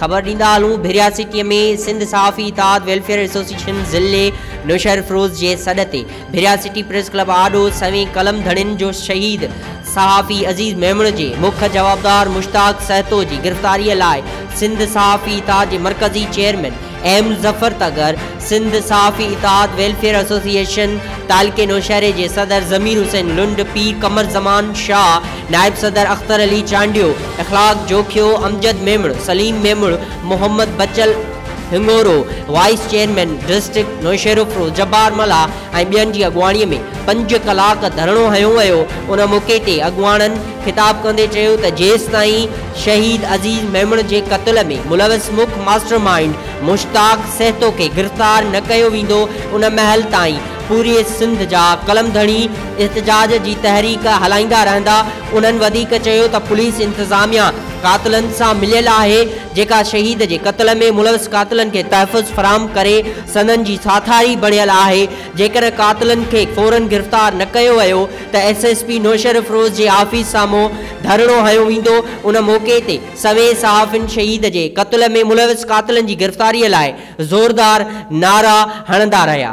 خبر ڏيندا هلون ڀريا سٽيء ۾ سنڌ صحافي اتحاد ويلفيئر ايسوسيئيشن ضلعي نوشهرفروز جي سڏ تي ڀريا سٽي پريس ڪلب آڏو سوين قلم ڌڻين جو شهيد صحافي عزيز ميمڻ جي مک جوابدار مشتاق سهتو جي گرفتاريء لاء سنڌ صحافي اتحاد جي مرڪزي چيئرمين ايم ظفر تغر، سنڌ صحافي اتحاد ويلفيئر ايسوسيئيشن تعلقي نوشهري جي صدر ضمير حسين لنڊ، پير قمر زمان شاهه، نائب صدر Akhtar Ali Chandio, Akhlaq Jokhio, Amjad Memon, Saleem Memon, Muhammad Bachal Hingoro, vice chairman district Naushahro Feroze Jabbar Mallah, ۽ ٻين جي اڳواڻي ۾ پنج ڪلاڪ ڌرڻو هنيو ويو، ان موقعي تي اڳواڻن خطاب ڪندي چيو ته جيستائين شهيد عزيز ميمڻ جي قتل ۾ ملوث مک ماسٽر مائينڊ مشتاق سهتو کي گرفتار نه ڪيو ويندو ان مهل تائين پوري سنڌ جا قلم ڌڻي احتجاج جي تحريڪ هلائيندا رهندا، انهن وڌيڪ چيو ته پوليس انتظاميا قاتلن سان مليل آهي جيڪا شهيد جي قتل ۾ ملوث قاتلن کي تحفظ فراهم ڪري سندن جي ساٿاري بڻيل آهي، جيڪڏهن قاتلن کي فورن گرفتار نه ڪيو ويو ته ايس ايس پي نوشهرفروز جي آفيس سامهون ڌرڻو هنيو ويندو، ان موقعي تي سوين صحافين شهيد جي قتل ۾ ملوث قاتلن جي گرفتاري لاء زوردار نعرا هڻندا رهيا.